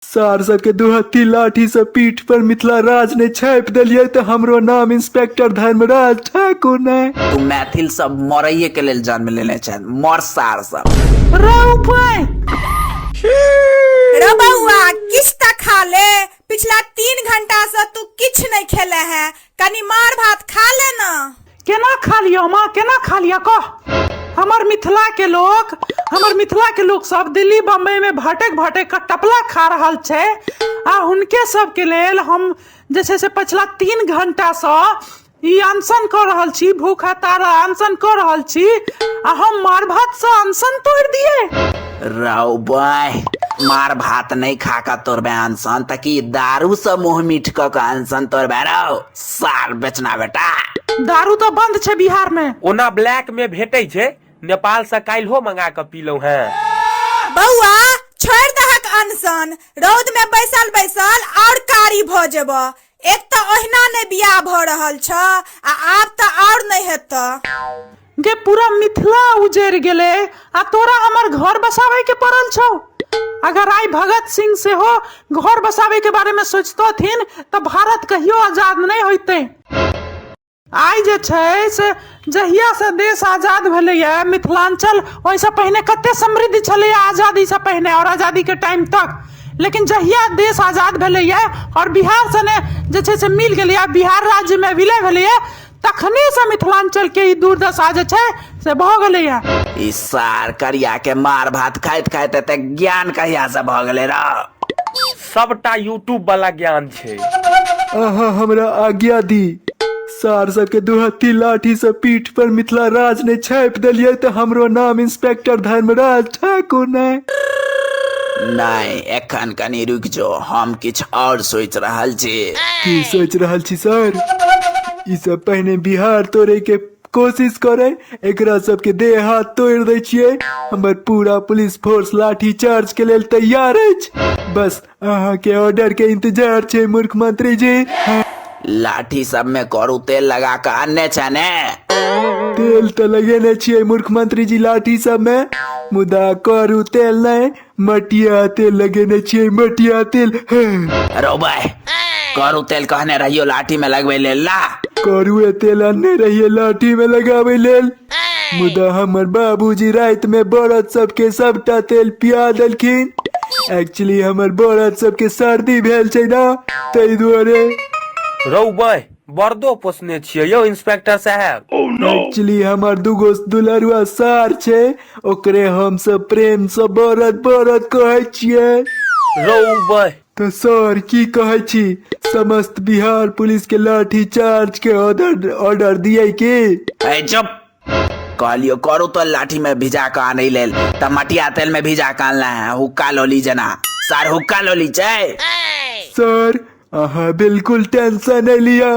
सार सबके दुहत्थी लाठी से पीठ पर मिथिला राज ने छाप दिलिये तो हमरो नाम इंस्पेक्टर धर्मराज ठाकुर ने तू मैथिल सब मरैये के लेल जन्म लेने छै मर सार सब रे बउआ किछ त खा ले पिछला तीन घंटा से तू किछ नहीं खेले है कनी मार भात खा ले ना केना खा लियो माँ केना खा लियो कह हमर मिथिला के लोग हमर मिथिला के लोग सब दिल्ली बम्बई में भटक भटक के टपला खा रहल छै आ हुनके सब के लेल हम जे छै से पछिला तीन घंटा सँ ई अनशन कऽ रहल छी भूख हतारा अनशन कऽ रहल छी आ हम मार भात सँ अनशन तोड़ि दियै रौ बॉय मार भात नहि खा कऽ तोरबे अनसन तऽ की दारू से मुँह मीठ कऽ कऽ अनसन तोरबे रौ सार बेचना बेटा दारू तऽ बंद छै बिहार में ओना ब्लैक में भेटै छै नेपाल से काल्हिो मंगा कऽ पीलहुँ हैं बौआ छोड़ दहक अनसन रौद में बैसल बैसल और कारी भऽ जेबह एक तऽ ओहिना नहि बियाह भऽ रहल छ आ आब तऽ आओर नहि हेतऽ गे पूरा मिथिला उजैर गेलै आ तोरा हमर घर बसाबै के पड़ल छौ अगर आइ भगत सिंह सेहो घर बसाबै के बारे में सोचतथिन तऽ भारत कहियो आजाद नहि होइतै आइ जे छै से जहियासँ देश आजाद भेलैए मिथिलाञ्चल ओहिसँ पहिने कतेक समृद्ध छलैए आजादीसँ पहिने आओर आजादीके टाइम तक लेकिन जहिया देश आजाद भेलैए आओर बिहार सने जे छै से मिल गेलैए बिहार राज्यमे विलय भेलैए तखनेसँ मिथिलाञ्चलके ई दुर्दशा जे छै से भऽ गेलैए ई सार करियाके मार भात खाइत खाइत एते ज्ञान कहियासँ भऽ गेलै रौ सबटा यूट्यूब वाला ज्ञान छै अहाँ हमरा आज्ञा दी सार सबके दुहत्ती लाठी से पीठ पर मिथिला राज ने छापि देलियै तऽ हमरो नाम इंस्पेक्टर धर्मराज ठाकुर ने नहि एखन कनि रुकि जो हम किछु आओर सोचि रहल छी की सोचि रहल छी सर ई सब पहिने बिहार तोड़े के कोशिश करे एकरा सबके देह हाथ तोड़ दै छियै हमर पूरा पुलिस फोर्स लाठी चार्ज के लेल तैयार अछि बस अहाँ के ऑर्डर के इंतजार छै मूर्ख मंत्री जी लाठी सब में करू तेल लगा के अन्य छै ने तेल तऽ लगेने छियै मूर्ख मंत्री जी लाठी सब में मुदा करू तेल नहि मटिया तेल लगेने छियै मटिया तेल हाँ, रोबे करू तेल कहने रहियो लाठी में लगबे ले ला करुए तेल आनने रहिए लाठी में लगाबै लेल मुदा हमर बाबूजी राति में बड़द सबके सबटा तेल पिया देलखिन एक्चुअली हमर बड़द सबके सर्दी भेल छै ना ताहि दुआरे रौ बे बरदो पोसने छियै यौ इंस्पेक्टर साहेब एक्चुअली हमर दूगो दुलरुआ सार छै ओकरे हम सब प्रेम से बरद बरद कहै छियै रौ बह तऽ सर की कहै छी समस्त बिहार पुलिस के लाठी चार्ज के ऑर्डर ऑर्डर दिए की ए चुप कहलियो करू तो लाठी में भिजा के आनै लेल तऽ मटिया तेल में भिजा के आनला है हुक्का लोली जना सर हुक्का लोली छै सर अहाँ बिल्कुल टेंशन नहि लिअ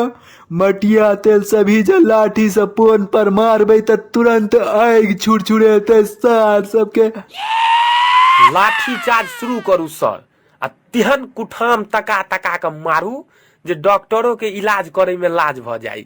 मटिया तेल से भीजल लाठी से पोन पर मारबै तऽ तुरंत आगि छुरछुरेतै सार सबके लाठी चार्ज शुरू करू सर आ तेहन कुठाम तका तका कऽ मारू जे डॉक्टरो के इलाज करे में लाज भऽ जाई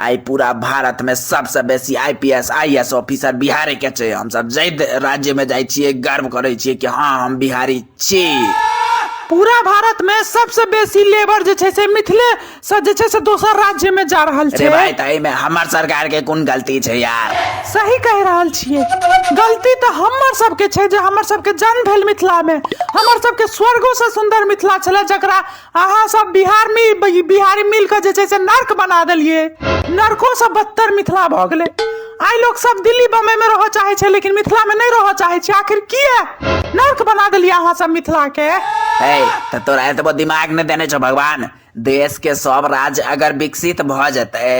आइ पूरा भारत में सबसे बेसी आईपीएस आईएएस ऑफिसर बिहारे के छै हम सब जय राज्य में जाय छियै गर्व करे छियै कि हाँ हम बिहारी छी पूरा भारत में सबसे बेसी लेबर जे छै से मिथिले से जे छै से दोसर राज्य में जा रहल रे छै भाई तई में हमर सरकार के कोन गलती छै यार सही कह रहल छियै गलती तऽ हमर सबके छै जे हमर सबके जन्म भेल मिथिला में हमर सबके स्वर्गो से सुंदर मिथिला छलै जकरा अहाँ सब बिहार मे ब- बिहारी मिल के जे छै से नर्क बना देलिए नर्को से बदतर मिथिला भऽ गेलै आइ लोग सब दिल्ली बम्बई में रहऽ चाहे छै लेकिन मिथिला में नहीं रहऽ चाहे छै आखिर किए नर्क बना देलिए अहाँ सब मिथिला के है तो तोरा एतबो दिमाग ने देने छो भगवान देश के सब राज्य अगर विकसित भ जते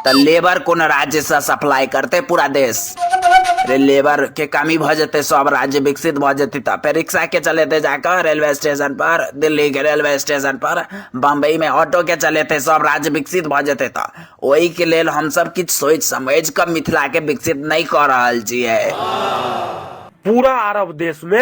तो लेबर कोन राज्य से सप्लाई करते पूरा देश अरे लेबर के कमी भ जते सब राज्य विकसित भ जते त फिर रिक्शा के चलेते जाकर रेलवे स्टेशन पर दिल्ली के रेलवे स्टेशन पर बम्बई में ऑटो के चलेते सब राज्य विकसित भ जते त ओहि के लेल हम सब किछु सोच समझ के मिथिला के विकसित नहीं क रहल छियै पूरा अरब देश में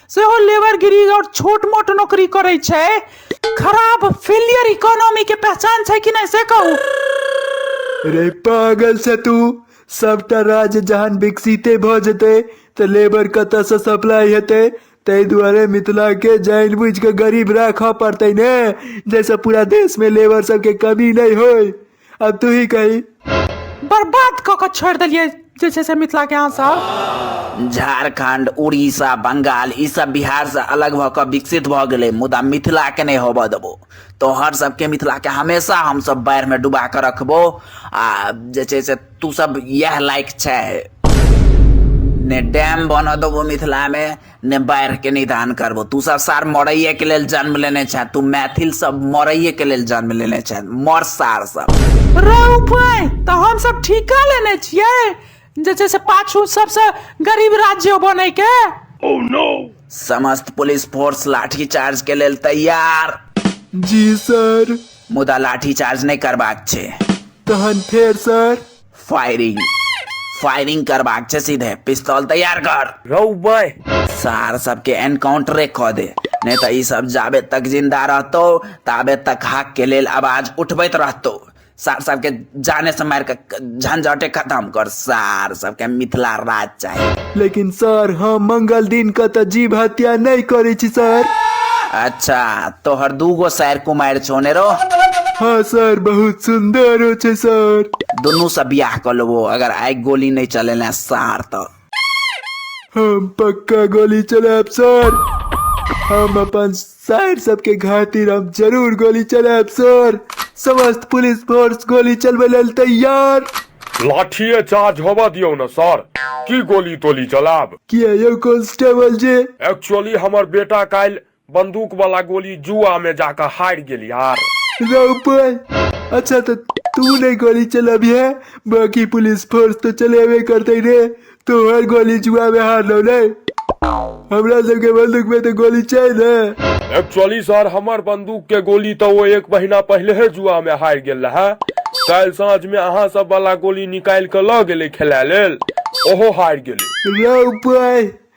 सेहो लेबरगिरी आओर छोट मोट नौकरी करै छै खराब फेलियर इकोनॉमी के पहचान छै कि नहि से कहू रे पागल से तू सबटा राज्य जहन विकसिते भऽ जेतै तऽ लेबर कतऽसँ सप्लाई हेतै ताहि दुआरे मिथिलाके जानि बुझि कऽ गरीब राखऽ पड़तै ने जाहिसँ पूरा देशमे लेबर सबके कमी नहि होय अब तू ही कही बर्बाद कऽ कऽ छोड़ि देलियै जे छै से मिथिलाके अहाँ सब झारखंड उड़ीसा बंगाल ई सब बिहार से अलग भऽ कऽ विकसित भऽ गेलै मुदा मिथिला के नहि होबऽ देबो तोहर सबके मिथिला के हमेशा हमसब बाढ़ि मे डुबा कऽ रखबो आ जे छै से तू सब इएह लायक छै ने डैम बनऽ देबो मिथिला मे ने बाढ़िके निदान करबो तू सब सार मरैएके लेल जन्म लेने छे तू मैथिल सब मरैएके लेल जन्म लेने छे मर सार सब रौ भाय तऽ हम सब ठीका लेने छियै जे छै से पाछू सबसँ गरीब राज्य बनैके समस्त पुलिस फोर्स लाठी चार्ज के लेल तैयार जी सर मुदा लाठी चार्ज नहि करबाक छै तहन फेर सर फायरिंग फायरिंग करबाक छै सीधे पिस्तौल तैयार कर रौबै सार सबके एनकाउंटरे कऽ दे नहि तऽ ई सब जाबे तक जिंदा रहतौ ताबे तक हक के लेल आवाज उठबैत रहतौ सार सबके जाने से मारि कऽ झंझटे खत्म कर सार सबके मिथिला राज चाही लेकिन सर हम मंगल दिन के तऽ जीव हत्या नहि करै छी सर अच्छा तोहर दूगो सैर कुमारि छोने रो हाँ सर बहुत सुंदर हो छै सर दुनू से बियाह कर लेबो अगर आइ गोली नहीं चलेला सार तो हम पक्का गोली चलाब सर हम अपन सर सबके घातिर हम जरूर गोली चलाएब सर समस्त पुलिस फोर्स गोली चलबै लेल तैयार लाठिए चार्ज होबऽ दियौ ने सर की गोली तोली चलाब किया यौ कांस्टेबल जी एक्चुअली हमर बेटा काल्हि बंदूक वाला गोली जुआ में जाकर हार गेल यार रौ पाय अच्छा तो तू नहीं गोली चलाबिहे बाकी पुलिस फोर्स तो चलेबे करते रे तोहर गोली जुआ में हार लो नहीं हमरा सबके बंदूक में तो गोली चाहिए ना एक्चुअली सर हमर बंदूक के गोली तो वो एक महीना पहले ही जुआ में हार गेल रहा कल साँझ में अहाँ सब वाला गोली निकाल के ल गेले खेला लेल ओहो हार गेले लो बॉय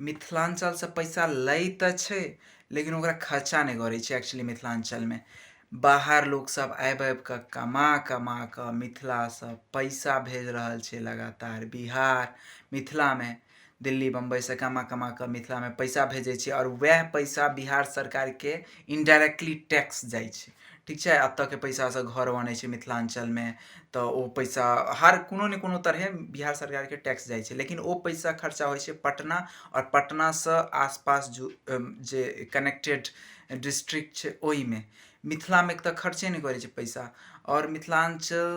मिथिलाञ्चलसँ पैसा लै तऽ छै लेकिन ओकरा खर्चा नहि करै छै एक्चुअली मिथिलाञ्चलमे बाहर लोकसभ आबि आबि कऽ कमा कमा कऽ मिथिलासँ पैसा भेज रहल छै लगातार बिहार मिथिलामे दिल्ली बम्बइसँ कमा कमा कऽ मिथिलामे पैसा भेजै छै आओर उएह पैसा बिहार सरकारके इनडायरेक्टली टैक्स जाइ छै ठीक छै एतऽके पैसासँ घर बनै छै मिथिलाञ्चलमे तऽ ओ पैसा हर कोनो ने कोनो तरहे बिहार सरकारके टैक्स जाइ छै लेकिन ओ पैसा खर्चा होइ छै पटना आओर पटनासँ आसपास जो जे कनेक्टेड डिस्ट्रिक्ट छै ओइमे मिथिलामे तऽ खर्चे नहि करै छै पैसा आओर मिथिलाञ्चल